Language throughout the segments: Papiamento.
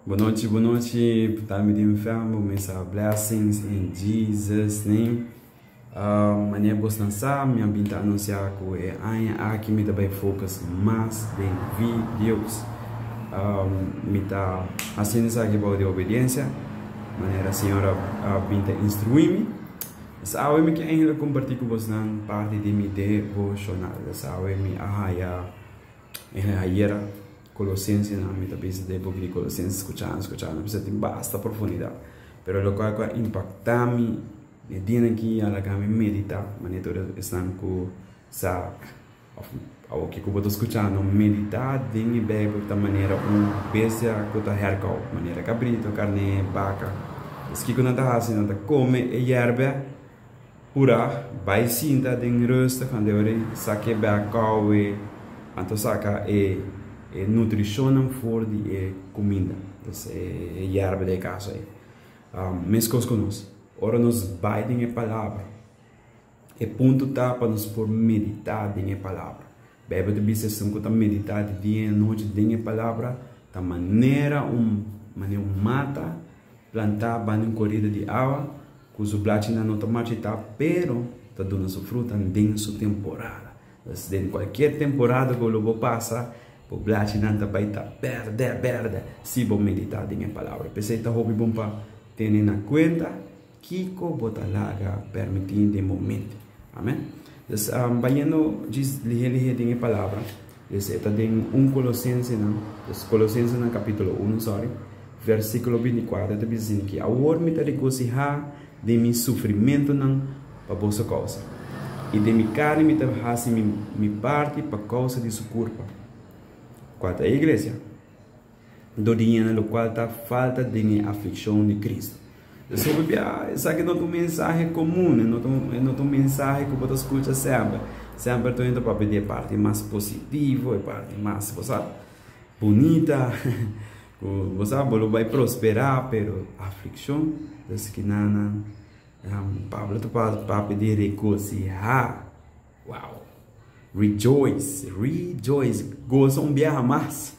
Boa noite, boa noite. Tá me tem fermo, me sa blessings in Jesus name. Uh, mané bos nan sa, me bin ta anunciar ku e aña aki me ta bai focus mas den videos. Um, me ta haciendo sa ki bou de obediencia, manera Señor a, a bin ta instruí mi. Sa awe me ke eindelijk compartir ku bos nan parte de mi devocional. Sa awe mi a haya E ayera Colosensenan, mi ta bisa ta e boki di Colosenses scuchando, scuchando, mi bisa tin basta profundidad. Pero loke cu a impacta mi e dianan aki a laga mi medita, manera tur esnan cu sa, of awo kico bo ta scuchando, medita den e Bijbel ta manera un bestia cu ta hercau, manera cabrito, carne'e, baca. Pues kico nan ta haci? Nan ta come e yerbea. Urag bai sinta den rustig and debari sa ke bek kowe anto saka e e nutrishonnan for di e kuminda, des e e yerba di e kasa ei. Meskos ku nos, ora nos bai den e Palabra, e punto ta pa nos por meditá den e Palabra. Beibel ta bisa, Esun ku ta meditá di dia i anochi den e palabra, ta manera un manera un mata plantá banda un korida di awa, ku su blachinan no ta marchitá, pero ta duna su frutan den su temporada. Entonces, den kualkier temporada ku lo bo pasa, bo blachinan ta bai ta bèrdè bèrdè si bo meditá den e palabra. P'esei ta hopi bon pa tene na kuenta. Kiko bo ta laga permití den moment? Amen. Dus, bayendo djis lihé lihé den e palabra, dus e ta den un Colosensenan, dus Colosensenan capítulo uno, sorry, versículo binti kuater ta bisa asina aki, Awor mi ta regosihá den mi sufrimentunan pa boso kousa, i den mi karni mi ta hasi mi parti pa kousa di su kurpa. Kua ta e, iglesia? dor di hende lokual ta falta den e aflikshon di Kristu. Pasobra bia esaki no ta un mensahe komun, e no ta un mensahe ku bo ta skucha semper. Semper anto hende ta papia di e parti mas positivo, e parti mas, bo sa, bunita, ku bo sa bo lo bai prosperá. Pero aflikshon ta skiná nan. Pablo ta papia di regosihá. Wow! Rejoice, rejoice, goza un biaha mas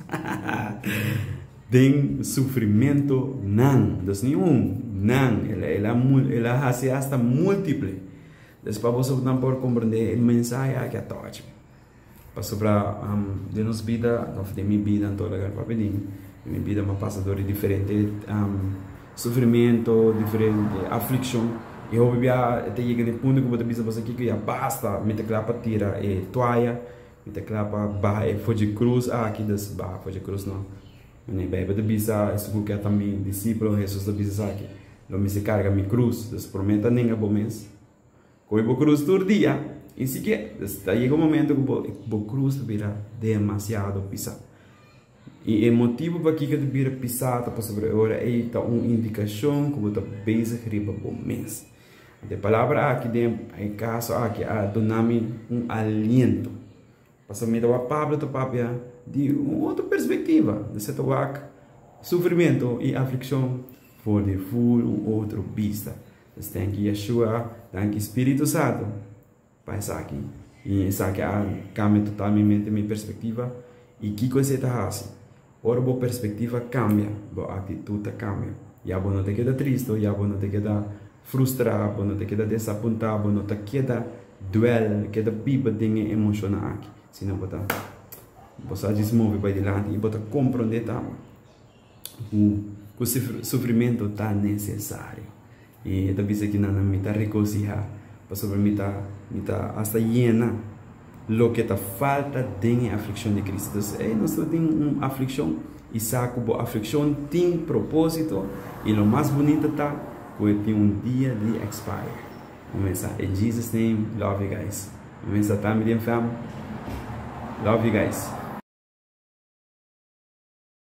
den sufrimentu nan. Dus ni un, nan. El a hasi asta multiple. Dus pa bosotronan por komprendé e mensahe aki a touch mi. Pasobra den nos bida, òf den mi bida, en tur laga ku a bini, mi bida mi a pasa dor di diferente. Sufrimentu, diferente aflikshon. E hopi biaha e ta yega na e punto ku bo ta bisa pa esaki ku ya basta, mi ta kla pa tira e tuaya, mi ta kla pa baha e fochi krus aki, dus baha fochi krus no. Bueno, e Beibel ta bisa esun ku ke tambe disipel, Hesus ta bisa esaki, lo mester karga mi krus. Dus, promé ta nenga bo mes. Kohe bo krus tur dia i si ke ta yega un momento ku bo bo krus ta bira demasiado pisá. I e motibu pakiko ta bira pisá ta pasobra e ora ei ta un indikashon ku bo ta bezig riba bo mes. Anto e palabra aki den e kaso aki a duna mi un aliento. Pasobra mi ta wak Pablo ta papia di un otro perspektiva. Esei ta wak sufrimentu i aflikshon for di full un otro bista. Nos tenki Yeshua danki Spiritu Santu pa esaki. I esaki a kambia totalmente mi perspektiva. I kiko esei ta hasi? Ora bo perspektiva kambia, bo aktitut ta kambia. Ya bo no ta keda tristu, ya bo no ta keda frustrá, bo no ta keda desapuntá, bo no ta keda duel, keda biba den e emoshonan aki, sino bo ta bo sa djis movi bai dilanti i bo ta komprondé tambe. bu ku sufrimentu ta nesesario. I e ta bisa ki nan, Mi ta regosihá, pasobra mi ta mi ta asta yena. Loke ta falta den e aflikshon di Kristu. Entonces, si ey nos ta tin un aflikshon, i sa ku bo aflikshon tin propósito, i lo mas bunita ta ku e tin un dia di expire. Bo mester sa. In Jesus name, love you guys. Bo mester sa tambe den fèm. Love you guys.